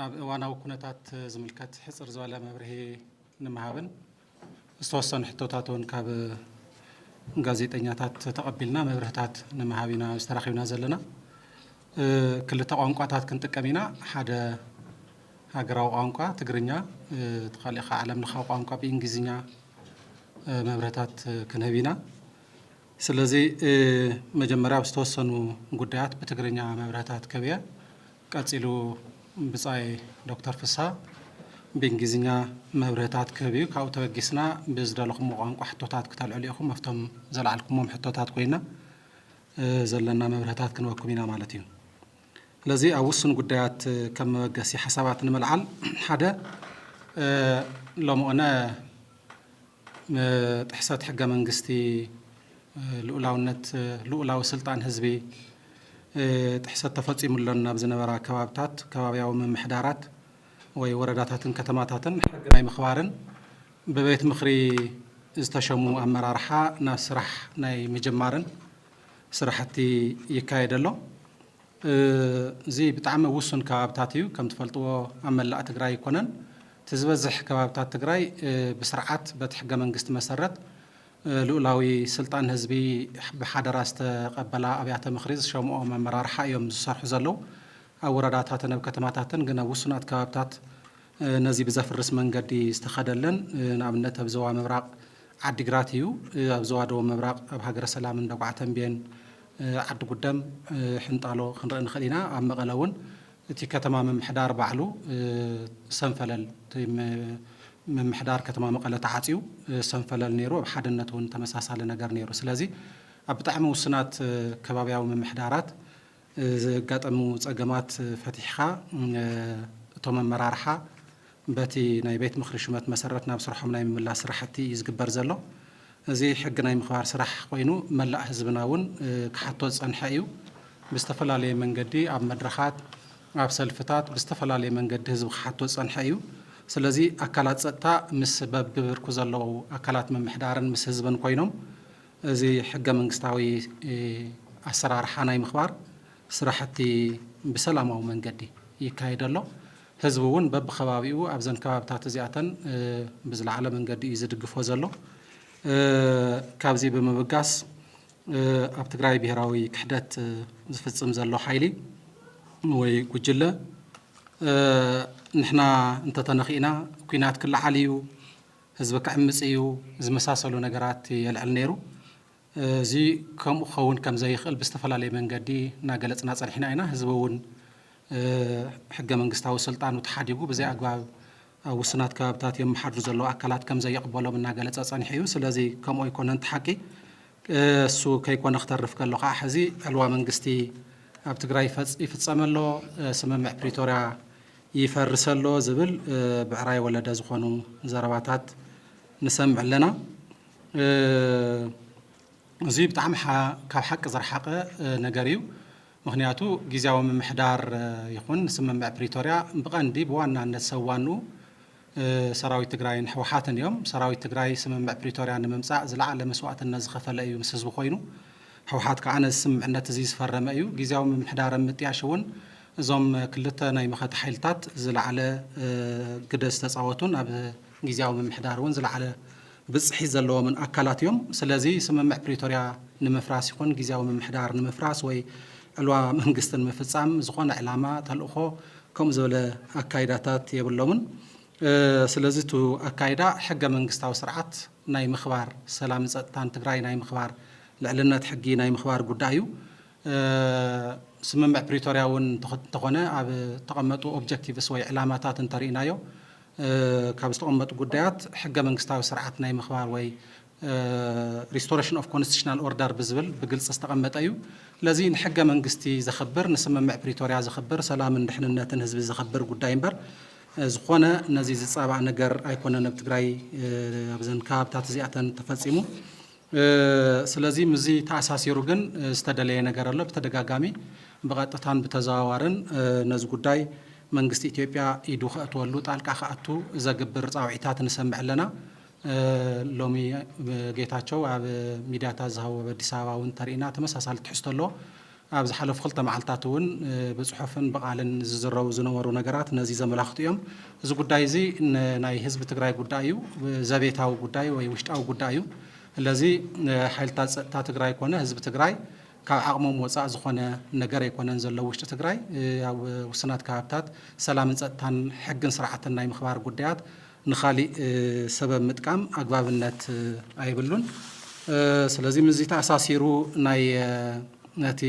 ኣብ እዋናዊ ኩነታት ዝምልከት ሕፅር ዝበለ መብርሂ ንምሃብን ዝተወሰኑ ሕቶታት እውን ካብ ጋዜጠኛታት ተቐቢልና መብርህታት ንምሃብ ኢና ዝተራኺብና ዘለና። ክልተ ቋንቋታት ክንጥቀም ኢና፣ ሓደ ሃገራዊ ቋንቋ ትግርኛ፣ እቲ ካልእ ከዓ ዓለም ለኻዊ ቋንቋ ብእንግሊዝኛ መብርህታት ክንህብ ኢና። ስለዚ መጀመርያ ኣብ ዝተወሰኑ ጉዳያት ብትግርኛ መብርህታት ክህብ እየ። ቀፂሉ ብፃይ ዶክተር ፍስሃ ብእንግሊዝኛ መብርህታት ክህብ እዩ። ካብኡ ተበጊስና ብዝደለኹምዎ ቋንቋ ሕቶታት ክተልዕሉ ኢኹም ኣብቶም ዘልዓልኩሞም ሕቶታት ኮይና ዘለና መብርህታት ክንበኩም ኢና ማለት እዩ። ስለዚ ኣብ ውሱን ጉዳያት ከም መበገሲ ሓሳባት ንምልዓል ሓደ ሎምኦነ ጥሕሰት ሕገ መንግስቲ ልኡላውነት ልኡላዊ ስልጣን ህዝቢ ጥሕሰት ተፈፂሙሎን ናብ ዝነበራ ከባብታት ከባብያዊ ምምሕዳራት ወይ ወረዳታትን ከተማታትን ሕጊ ናይ ምኽባርን ብቤት ምኽሪ ዝተሸሙ ኣመራርሓ ናብ ስራሕ ናይ ምጅማርን ስራሕቲ ይካየድ ኣሎ። እዚ ብጣዕሚ ውሱን ከባብታት እዩ። ከም ትፈልጥዎ ኣብ መላእ ትግራይ ኣይኮነን። እቲ ዝበዝሕ ከባብታት ትግራይ ብስርዓት በቲ ሕገ መንግስቲ መሰረት ልኡላዊ ስልጣን ህዝቢ ብሓደራ ዝተቐበላ ኣብያተ ምኽሪ ዝሸምኦም ኣመራርሓ እዮም ዝሰርሑ ዘለዉ። ኣብ ወረዳታትን ኣብ ከተማታትን ግን ኣብ ውሱናት ከባብታት ነዚ ብዘፍርስ መንገዲ ዝተኸደለን ንኣብነት ኣብ ዞባ ምብራቕ ዓዲግራት እዩ። ኣብ ዞባ ደቡብ ምብራቕ ኣብ ሃገረ ሰላም፣ እንደጉዓ ተምቤን፣ ዓዲ ጉደም፣ ሕንጣሎ ክንርኢ ንኽእል ኢና። ኣብ መቐለ እውን እቲ ከተማ ምምሕዳር ባዕሉ ሰንፈለል እቲ ምምሕዳር ከተማ መቐለ ተዓፅዩ ሰንፈለል ነይሩ። ኣብ ሓድነት እውን ተመሳሳሊ ነገር ነይሩ። ስለዚ ኣብ ብጣዕሚ ውሱናት ከባብያዊ ምምሕዳራት ዘጋጠሙ ፀገማት ፈቲሕኻ እቶም ኣመራርሓ በቲ ናይ ቤት ምኽሪ ሹመት መሰረት ናብ ስርሖም ናይ ምምላስ ስራሕቲ እዩ ዝግበር ዘሎ። እዚ ሕጊ ናይ ምኽባር ስራሕ ኮይኑ መላእ ህዝብና እውን ክሓቶ ዝፀንሐ እዩ። ብዝተፈላለየ መንገዲ ኣብ መድረኻት፣ ኣብ ሰልፍታት ብዝተፈላለየ መንገዲ ህዝቢ ክሓቶ ዝፀንሐ እዩ። ስለዚ ኣካላት ፀጥታ ምስ በብብርኩ ዘለዉ ኣካላት ምምሕዳርን ምስ ህዝብን ኮይኖም እዚ ሕገ መንግስታዊ ኣሰራርሓ ናይ ምኽባር ስራሕቲ ብሰላማዊ መንገዲ ይካየድ ኣሎ። ህዝቢ እውን በብከባቢኡ ኣብዘን ከባብታት እዚኣተን ብዝለዓለ መንገዲ እዩ ዝድግፎ ዘሎ። ካብዚ ብምብጋስ ኣብ ትግራይ ብሄራዊ ክሕደት ዝፍፅም ዘሎ ሓይሊ ወይ ጉጅለ ንሕና እንተተነኺእና ኩናት ክለዓል እዩ፣ ህዝቢ ክዕምጽ እዩ ዝመሳሰሉ ነገራት የልዕል ነይሩ። እዚ ከምኡ ክኸውን ከም ዘይኽእል ብዝተፈላለየ መንገዲ እናገለጽና ጸኒሕና ኢና። ህዝቢ እውን ሕገ መንግስታዊ ስልጣኑ ተሓዲጉ ብዘይ ኣግባብ ኣብ ውሱናት ከባብታት የመሓድሩ ዘለዉ ኣካላት ከም ዘይቕበሎም እናገለጸ ጸኒሑ እዩ። ስለዚ ከምኡ ኣይኮነን እቲ ሓቂ። እሱ ከይኮነ ክተርፍ ከሎ ከኣ ሕዚ ዕልዋ መንግስቲ ኣብ ትግራይ ይፍጸም ኣሎ፣ ስምምዕ ፕሪቶርያ ይፈርስ ኣሎ ዝብል ብዕራይ ወለደ ዝኾኑ ዘረባታት ንሰምዕ ኣለና። እዙይ ብጣዕሚ ካብ ሓቂ ዝረሓቐ ነገር እዩ። ምኽንያቱ ጊዜያዊ ምምሕዳር ይኹን ስምምዕ ፕሪቶርያ ብቐንዲ ብዋናነት ሰብ ዋንኡ ሰራዊት ትግራይን ህወሓትን እዮም። ሰራዊት ትግራይ ስምምዕ ፕሪቶርያ ንምምፃእ ዝለዓለ መስዋእትነት ዝኸፈለ እዩ ምስ ህዝቢ ኮይኑ። ህወሓት ከዓ ነዚ ስምምዕነት እዙይ ዝፈረመ እዩ። ጊዚያዊ ምምሕዳር ኣብ ምጥያሽ እውን እዞም ክልተ ናይ መኸተ ሓይልታት ዝለዓለ ግደ ዝተፃወቱን ኣብ ጊዚያዊ ምምሕዳር እውን ዝለዓለ ብፅሒት ዘለዎምን ኣካላት እዮም። ስለዚ ስምምዕ ፕሪቶርያ ንምፍራስ ይኹን ግዝያዊ ምምሕዳር ንምፍራስ ወይ ዕልዋ መንግስቲ ንምፍፃም ዝኾነ ዕላማ፣ ተልእኾ ከምኡ ዝበለ ኣካይዳታት የብሎምን። ስለዚ እቱ ኣካይዳ ሕገ መንግስታዊ ስርዓት ናይ ምኽባር፣ ሰላምን ፀጥታን ትግራይ ናይ ምኽባር፣ ልዕልነት ሕጊ ናይ ምኽባር ጉዳይ እዩ። ስምምዕ ፕሪቶርያ እውን እንተኾነ ኣብ እተቐመጡ ኦብጀክቲቭስ ወይ ዕላማታት እንተሪእናዮ ካብ ዝተቐመጡ ጉዳያት ሕገ መንግስታዊ ስርዓት ናይ ምኽባር ወይ ሪስቶረሽን ኦፍ ኮንስቲቱሽናል ኦርደር ብዝብል ብግልፂ ዝተቐመጠ እዩ። ስለዚ ንሕገ መንግስቲ ዘኽብር፣ ንስምምዕ ፕሪቶርያ ዘኽብር፣ ሰላምን ድሕንነትን ህዝቢ ዘኽብር ጉዳይ እምበር ዝኾነ ነዚ ዝፃባእ ነገር ኣይኮነን ኣብ ትግራይ ኣብዘን ከባብታት እዚኣተን ተፈፂሙ። ስለዚ ምስዚ ተኣሳሲሩ ግን ዝተደለየ ነገር ኣሎ። ብተደጋጋሚ ብቐጥታን ብተዘዋዋርን ነዚ ጉዳይ መንግስቲ ኢትዮጵያ ኢዱ ከእትወሉ፣ ጣልቃ ክኣቱ ዘግብር ጻውዒታት ንሰምዕ ኣለና። ሎሚ ጌታቸው ኣብ ሚድያታት ዝሃቦ ኣብ ኣዲስ ኣበባ እውን እንተርኢና ተመሳሳሊ ትሕዝቶ ኣለዎ። ኣብ ዝሓለፉ ክልተ መዓልታት እውን ብፅሑፍን ብቓልን ዝዝረቡ ዝነበሩ ነገራት ነዚ ዘመላኽቱ እዮም። እዚ ጉዳይ እዚ ናይ ህዝቢ ትግራይ ጉዳይ እዩ። ዘቤታዊ ጉዳይ ወይ ውሽጣዊ ጉዳይ እዩ። ስለዚ ሓይልታት ፀጥታ ትግራይ ኮነ ህዝቢ ትግራይ ካብ ዓቕሞም ወፃእ ዝኾነ ነገር ኣይኮነን ዘሎ ውሽጢ ትግራይ ኣብ ውስናት ከባብታት ሰላምን ፀጥታን ሕግን ስርዓትን ናይ ምኽባር ጉዳያት ንኻሊእ ሰበብ ምጥቃም ኣግባብነት ኣይብሉን። ስለዚ ምስዚ ተኣሳሲሩ ናይ ነቲ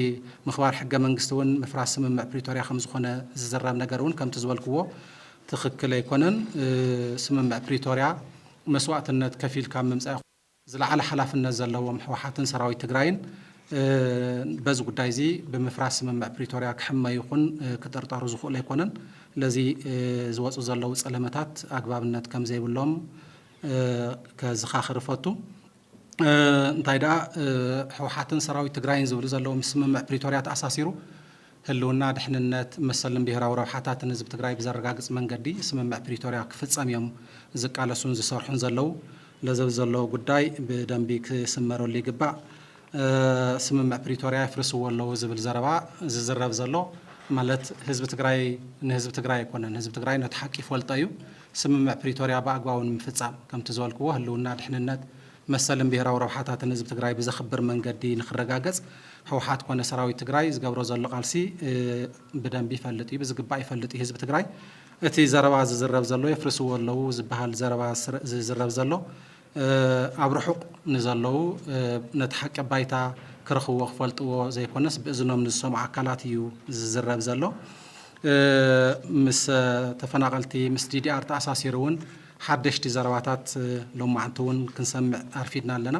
ምኽባር ሕገ መንግስቲ እውን ምፍራስ ስምምዕ ፕሪቶርያ ከምዝኾነ ዝዝረብ ነገር እውን ከምቲ ዝበልክዎ ትኽክል ኣይኮነን። ስምምዕ ፕሪቶርያ መስዋእትነት ከፊልካ ኣብ ምምፃእ ዝለዓለ ሓላፍነት ዘለዎም ህወሓትን ሰራዊት ትግራይን በዚ ጉዳይ እዚ ብምፍራስ ስምምዕ ፕሪቶርያ ክሕመዩ ይኹን ክጥርጠሩ ዝኽእሉ ኣይኮነን። ስለዚ ዝወፁ ዘለዉ ፀለመታት ኣግባብነት ከም ዘይብሎም ከዝኻኽር እፈቱ። እንታይ ደኣ ህወሓትን ሰራዊት ትግራይን ዝብሉ ዘለዉ ምስ ስምምዕ ፕሪቶርያ ተኣሳሲሩ ህልውና፣ ድሕንነት፣ መሰልን ብሄራዊ ረብሓታትን ህዝቢ ትግራይ ብዘረጋግፅ መንገዲ ስምምዕ ፕሪቶሪያ ክፍፀም እዮም ዝቃለሱን ዝሰርሑን ዘለው። ለዘብ ዘሎ ጉዳይ ብደንቢ ክስመረሉ ይግባእ። ስምምዕ ፕሪቶሪያ የፍርስዎ ኣለው ዝብል ዘረባ ዝዝረብ ዘሎ ማለት ህዝቢ ትግራይ ንህዝቢ ትግራይ ኣይኮነን። ህዝቢ ትግራይ ነቲ ሓቂ ይፈልጦ እዩ። ስምምዕ ፕሪቶሪያ ብኣግባቡ ንምፍፃም ከምቲ ዝበልክዎ ህልውና፣ ድሕንነት፣ መሰልን ብሄራዊ ረብሓታትን ህዝቢ ትግራይ ብዘኽብር መንገዲ ንኽረጋገፅ ህውሓት ኮነ ሰራዊት ትግራይ ዝገብሮ ዘሎ ቃልሲ ብደንቢ ይፈልጥ እዩ፣ ብዝግባእ ይፈልጥ እዩ ህዝቢ ትግራይ። እቲ ዘረባ ዝዝረብ ዘሎ የፍርስዎ ኣለዉ ዝበሃል ዘረባ ዝዝረብ ዘሎ ኣብ ርሑቕ ንዘለዉ ነቲ ሓቂ ኣብ ባይታ ክረኽብዎ ክፈልጥዎ ዘይኮነስ ብእዝኖም ንዝሰምዑ ኣካላት እዩ ዝዝረብ ዘሎ። ምስ ተፈናቐልቲ ምስ ዲዲኣር ተኣሳሲሩ እውን ሓደሽቲ ዘረባታት ሎማዕንቲ እውን ክንሰምዕ ኣርፊድና ኣለና።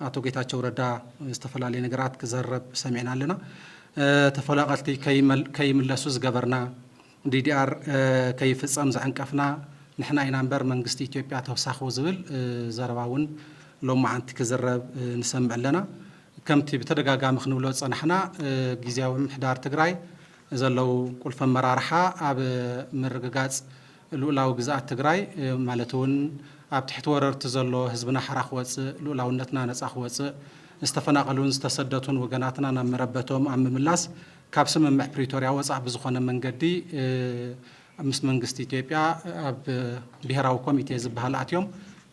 ኣቶ ጌታቸው ረዳ ዝተፈላለየ ነገራት ክዘረብ ሰሚዕና ኣለና። ተፈናቐልቲ ከይምለሱ ዝገበርና፣ DDR ከይፍፀም ዘዐንቀፍና ንሕና ኢና እምበር መንግስቲ ኢትዮጵያ ተውሳኹ ዝብል ዘረባ እውን ሎማዕንቲ ክዝረብ ንሰምዕ ኣለና። ከምቲ ብተደጋጋሚ ክንብሎ ዝፀናሕና ጊዚያዊ ምምሕዳር ትግራይ ዘለዉ ቁልፊ ኣመራርሓ ኣብ ምርግጋፅ ሉኡላዊ ግዝኣት ትግራይ ማለት እውን ኣብ ትሕቲ ወረርቲ ዘሎ ህዝብና ሓራ ክወፅእ፣ ሉኡላውነትና ነፃ ክወፅእ፣ ዝተፈናቐሉን ዝተሰደቱን ወገናትና ናብ መረበቶም ኣብ ምምላስ ካብ ስምምዕ ፕሪቶርያ ወፃእ ብዝኾነ መንገዲ ምስ መንግስቲ ኢትዮጵያ ኣብ ብሄራዊ ኮሚቴ ዝበሃል ኣትዮም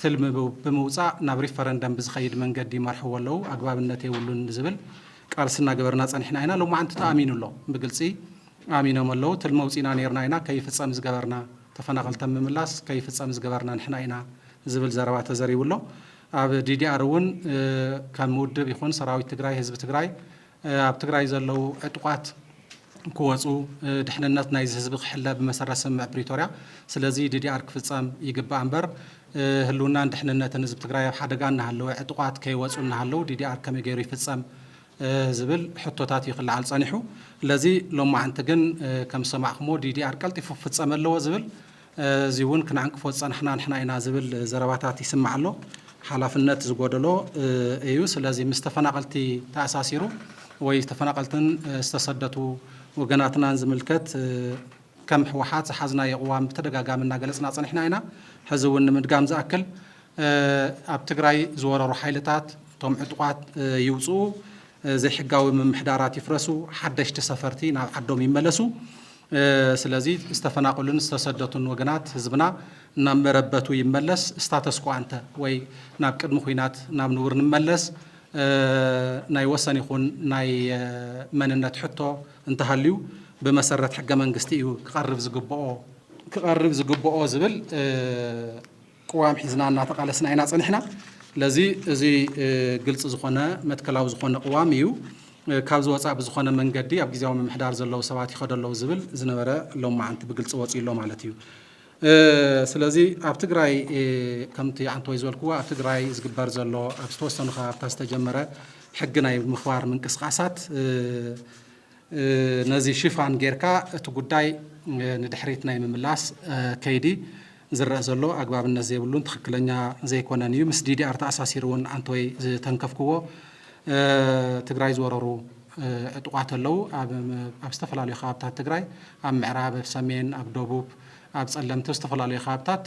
ትልሚ ብምውፃእ ናብ ሪፈረንደም ብዝኸይድ መንገዲ ይመርሕዎ ኣለው፣ ኣግባብነት የብሉን ንዝብል ቃልሲ እናገበርና ፀኒሕና ኢና። ሎማዕንቲ ተኣሚኑ ኣሎ ብግልፂ። ኣሚኖም ኣለዉ ትልሚ ኣውጺእና ኔርና ኢና ከይፍጸም ዝገበርና ተፈናቀልተም ምምላስ ከይፍጸም ዝገበርና ንሕና ኢና ዝብል ዘረባ ተዘሪቡ ኣሎ ኣብ ዲዲኣር እውን ከም ውድብ ይኹን ሰራዊት ትግራይ ህዝቢ ትግራይ ኣብ ትግራይ ዘለዉ ዕጡቃት ክወጹ ድሕንነት ናይዚ ህዝቢ ክሕለ ብመሰረት ስምምዕ ፕሪቶርያ ስለዚ ዲዲኣር ክፍጸም ይግባእ እምበር ህልውናን ድሕንነትን ህዝቢ ትግራይ ኣብ ሓደጋ እናሃለወ ዕጡቃት ከይወጹ እናሃለዉ ዲዲኣር ከመይ ገይሩ ይፍጸም ዝብል ሕቶታት እዩ ክለዓል ፀኒሑ። ለዚ ሎማዕንቲ ግን ከም ዝሰማዕኹምዎ ዲዲኣር ቀልጢፉ ክፍፀም ኣለዎ ዝብል እዚ እውን ክንዕንቅፎ ዝፀናሕና ንሕና ኢና ዝብል ዘረባታት ይስማዕ ኣሎ። ሓላፍነት ዝጎደሎ እዩ። ስለዚ ምስ ተፈናቐልቲ ተኣሳሲሩ ወይ ተፈናቐልትን ዝተሰደቱ ወገናትናን ዝምልከት ከም ህወሓት ዝሓዝናዮ ቅዋም ብተደጋጋሚ እናገለፅና ፀኒሕና ኢና። ሕዚ እውን ንምድጋም ዝኣክል ኣብ ትግራይ ዝወረሩ ሓይልታት እቶም ዕጡቓት ይውፅኡ፣ ዘይሕጋዊ ምምሕዳራት ይፍረሱ፣ ሓደሽቲ ሰፈርቲ ናብ ዓዶም ይመለሱ። ስለዚ ዝተፈናቐሉን ዝተሰደቱን ወገናት ህዝብና ናብ መረበቱ ይመለስ፣ ስታተስኮ ኣንተ ወይ ናብ ቅድሚ ኹናት ናብ ንቡር ንመለስ፣ ናይ ወሰን ይኹን ናይ መንነት ሕቶ፣ እንተሃልዩ ብመሰረት ሕገ መንግስቲ እዩ ክቐርብ ዝግበኦ። ክቐርብ ዝግበኦ ዝብል ቅዋም ሒዝና እናተቓለስና ኢና ፀኒሕና። ስለዚ እዚ ግልፂ ዝኾነ መትከላዊ ዝኾነ ቅዋም እዩ። ካብዚ ወፃእ ብዝኾነ መንገዲ ኣብ ግዜያዊ ምምሕዳር ዘለዉ ሰባት ይኸዱ ኣለዉ ዝብል ዝነበረ ሎማዓንቲ ብግልፂ ወፂኡ ኣሎ ማለት እዩ። ስለዚ ኣብ ትግራይ ከምቲ ኣንቶይ ዝበልክዎ ኣብ ትግራይ ዝግበር ዘሎ ኣብ ዝተወሰኑ ከባብታት ዝተጀመረ ሕጊ ናይ ምኽባር ምንቅስቓሳት ነዚ ሽፋን ጌርካ እቲ ጉዳይ ንድሕሪት ናይ ምምላስ ከይዲ ዝረአ ዘሎ ኣግባብነት ዘይብሉን ትኽክለኛ ዘይኮነን እዩ። ምስ ዲዲኣር ተኣሳሲሩ እውን ኣንቶይ ዝተንከፍክዎ ትግራይ ዝወረሩ ዕጡቓት ኣለዉ። ኣብ ኣብ ዝተፈላለዩ ከባብታት ትግራይ ኣብ ምዕራብ፣ ኣብ ሰሜን፣ ኣብ ደቡብ፣ ኣብ ፀለምቲ ኣብ ዝተፈላለዩ ከባብታት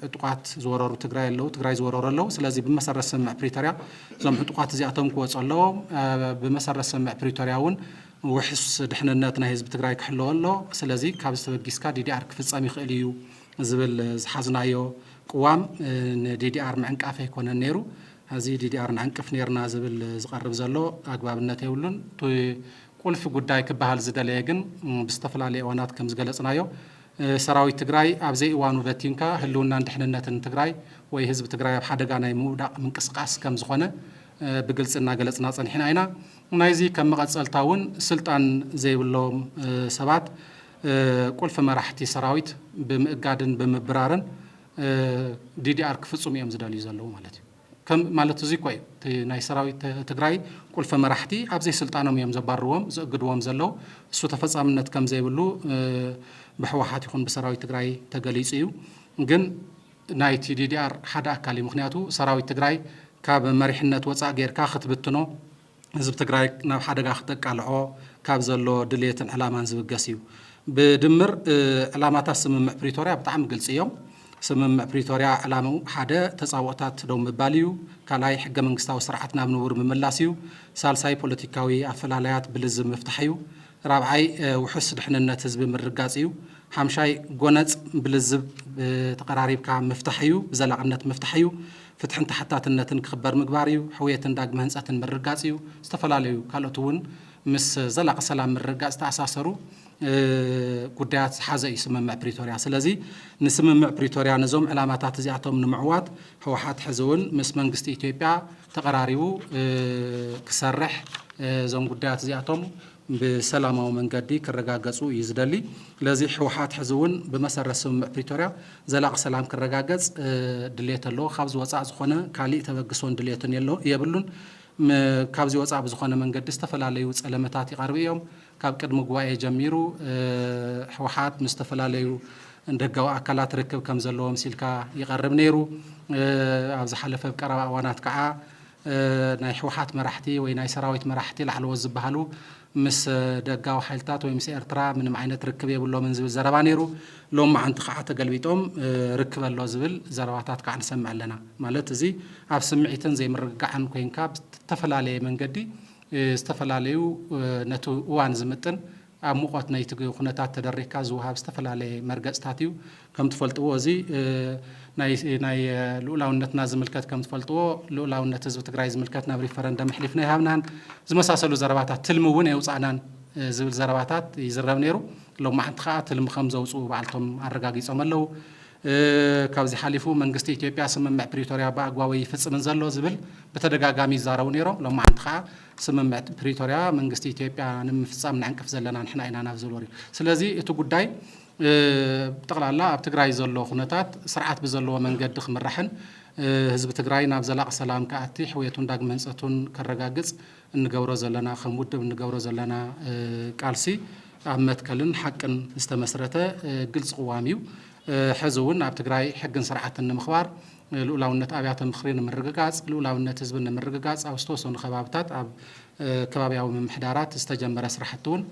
ዕጡቓት ዝወረሩ ትግራይ ኣለዉ ትግራይ ዝወረሩ ኣለዉ። ስለዚ ብመሰረት ስምምዕ ፕሪቶርያ እዞም ዕጡቓት እዚኣቶም ክወፁ ኣለዎም። ብመሰረት ስምምዕ ፕሪቶርያ እውን ውሕስ ድሕንነት ናይ ህዝቢ ትግራይ ክሕለዎ ኣለዎ። ስለዚ ካብዚ ተበጊስካ ዲዲኣር ክፍፀም ይኽእል እዩ ዝብል ዝሓዝናዮ ቅዋም ንዲዲኣር ምዕንቃፍ ኣይኮነን ነይሩ። ሐዚ ዲዲኣር ንዕንቅፍ ኔርና ዝብል ዝቀርብ ዘሎ ኣግባብነት የብሉን። እቲ ቁልፊ ጉዳይ ክበሃል ዝደለየ ግን ብዝተፈላለየ እዋናት ከምዝገለፅናዮ ሰራዊት ትግራይ ኣብ ዘይእዋኑ በቲንካ ህልውናን ድሕንነትን ትግራይ ወይ ህዝቢ ትግራይ ኣብ ሓደጋ ናይ ምውዳቅ ምንቅስቃስ ከምዝኾነ ብግልፂ እናገለፅና ፀኒሕና ኢና። ናይዚ ከም መቀፀልታ እውን ስልጣን ዘይብሎም ሰባት ቁልፊ መራሕቲ ሰራዊት ብምእጋድን ብምብራርን ዲዲኣር ክፍፅሙ እዮም ዝደልዩ ዘለዉ ማለት እዩ። ከም ማለት እዙይ እኮ እዩ እቲ ናይ ሰራዊት ትግራይ ቁልፊ መራሕቲ ኣብ ዘይስልጣኖም እዮም ዘባርዎም ዝእግድዎም ዘለዉ። እሱ ተፈፃምነት ከም ዘይብሉ ብሕወሓት ይኹን ብሰራዊት ትግራይ ተገሊፁ እዩ። ግን ናይቲ ዲዲኣር ሓደ ኣካል እዩ። ምኽንያቱ ሰራዊት ትግራይ ካብ መሪሕነት ወፃእ ገይርካ ክትብትኖ ህዝቢ ትግራይ ናብ ሓደጋ ክተቃልዖ ካብ ዘለዎ ድልየትን ዕላማን ዝብገስ እዩ። ብድምር ዕላማታት ስምምዕ ፕሪቶርያ ብጣዕሚ ግልፂ እዮም። ስምምዕ ፕሪቶርያ ዕላምኡ ሓደ ተፃብኦታት ደው ምባል እዩ። ካልኣይ ሕገ መንግስታዊ ስርዓት ናብ ንቡር ምምላስ እዩ። ሳልሳይ ፖለቲካዊ ኣፈላላያት ብልዝብ ምፍታሕ እዩ። ራብዓይ ውሑስ ድሕንነት ህዝቢ ምርጋፅ እዩ። ሓምሻይ ጎነፅ ብልዝብ ተቐራሪብካ ምፍታሕ እዩ። ብዘላቕነት ምፍታሕ እዩ። ፍትሕን ተሓታትነትን ክኽበር ምግባር እዩ። ሕውየትን ዳግመ ህንፀትን ምርጋፅ እዩ። ዝተፈላለዩ ካልኦት እውን ምስ ዘላቒ ሰላም ምርግጋፅ ዝተኣሳሰሩ ጉዳያት ዝሓዘ እዩ ስምምዕ ፕሪቶርያ። ስለዚ ንስምምዕ ፕሪቶርያ ነዞም ዕላማታት እዚኣቶም ንምዕዋት ህወሓት ሕዚ እውን ምስ መንግስቲ ኢትዮጵያ ተቐራሪቡ ክሰርሕ እዞም ጉዳያት እዚኣቶም ብሰላማዊ መንገዲ ክረጋገፁ እዩ ዝደሊ። ስለዚ ህወሓት ሕዚ እውን ብመሰረት ስምምዕ ፕሪቶርያ ዘላቒ ሰላም ክረጋገፅ ድሌት ኣለዎ። ካብዚ ወፃእ ዝኾነ ካሊእ ተበግሶን ድሌትን የብሉን። ካብዚ ወፃእ ብዝኾነ መንገዲ ዝተፈላለዩ ፀለመታት ይቐርቡ እዮም። ካብ ቅድሚ ጉባኤ ጀሚሩ ህወሓት ምስ ዝተፈላለዩ ደጋዊ ኣካላት ርክብ ከም ዘለዎ ምሲልካ ይቐርብ ነይሩ። ኣብ ዝሓለፈ ኣብ ቀረባ እዋናት ከዓ ናይ ህወሓት መራሕቲ ወይ ናይ ሰራዊት መራሕቲ ላዕለዎት ዝበሃሉ ምስ ደጋዊ ሓይልታት ወይ ምስ ኤርትራ ምንም ዓይነት ርክብ የብሎምን ዝብል ዘረባ ነይሩ። ሎም መዓንቲ ከዓ ተገልቢጦም ርክብ ኣሎ ዝብል ዘረባታት ከዓ ንሰምዕ ኣለና። ማለት እዚ ኣብ ስምዒትን ዘይምርግጋዕን ኮይንካ ብተፈላለየ መንገዲ ዝተፈላለዩ ነቲ እዋን ዝምጥን ኣብ ሙቐት ናይቲ ኩነታት ተደሪኽካ ዝወሃብ ዝተፈላለየ መርገፅታት እዩ። ከም ትፈልጥዎ እዚ ናይ ልኡላውነትና ዝምልከት ከም ትፈልጥዎ ልኡላውነት ህዝቢ ትግራይ ዝምልከት ናብ ሪፈረንደም ኣሕሊፍና ኣይሃብናን ዝመሳሰሉ ዘረባታት ትልሚ እውን ኣየውፃእናን ዝብል ዘረባታት ይዝረብ ነይሩ። ሎማዕንቲ ከዓ ትልሚ ከም ዘውፅኡ ባዕልቶም ኣረጋጊፆም ኣለው። ካብዚ ሓሊፉ መንግስቲ ኢትዮጵያ ስምምዕ ፕሪቶርያ ብኣግባቡ ኣይፍፅምን ዘሎ ዝብል ብተደጋጋሚ ይዛረቡ ነይሮም። ሎማዓንቲ ከዓ ስምምዕ ፕሪቶርያ መንግስቲ ኢትዮጵያ ንምፍፃም ንዕንቅፍ ዘለና ንሕና ኢና ናብ ዝብል ወሪዱ። ስለዚ እቲ ጉዳይ ብጠቕላላ ኣብ ትግራይ ዘሎ ኩነታት ስርዓት ብዘለዎ መንገዲ ክምራሕን ህዝቢ ትግራይ ናብ ዘላቒ ሰላም ክኣቲ፣ ሕውየቱን ዳግመ ህንፀቱን ከረጋግፅ፣ እንገብሮ ዘለና ከም ውድብ እንገብሮ ዘለና ቃልሲ ኣብ መትከልን ሓቅን ዝተመስረተ ግልፂ ቅዋም እዩ። ሕዚ እውን ኣብ ትግራይ ሕግን ስርዓትን ንምኽባር፣ ልኡላውነት ኣብያተ ምኽሪ ንምርግጋፅ፣ ልኡላውነት ህዝቢ ንምርግጋፅ ኣብ ዝተወሰኑ ከባብታት ኣብ ከባብያዊ ምምሕዳራት ዝተጀመረ ስራሕቲ እውን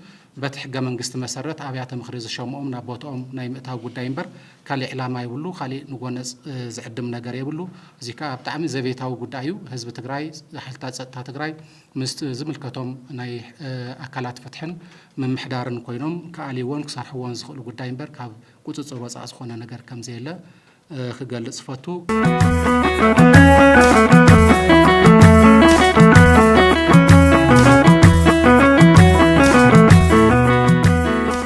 በቲ ሕገ መንግስቲ መሰረት ኣብያተ ምኽሪ ዝሸምኦም ናብ ቦትኦም ናይ ምእታው ጉዳይ እምበር ካሊእ ዕላማ የብሉ ካሊእ ንጎነፅ ዝዕድም ነገር የብሉ እዙይ ከዓ ብጣዕሚ ዘቤታዊ ጉዳይ እዩ ህዝቢ ትግራይ ሓይልታት ፀጥታ ትግራይ ምስ ዝምልከቶም ናይ ኣካላት ፍትሕን ምምሕዳርን ኮይኖም ክኣልይዎን ክሰርሕዎን ዝኽእሉ ጉዳይ እምበር ካብ ቁፅፅር ወፃእ ዝኾነ ነገር ከምዘየለ ክገልፅ እፈቱ።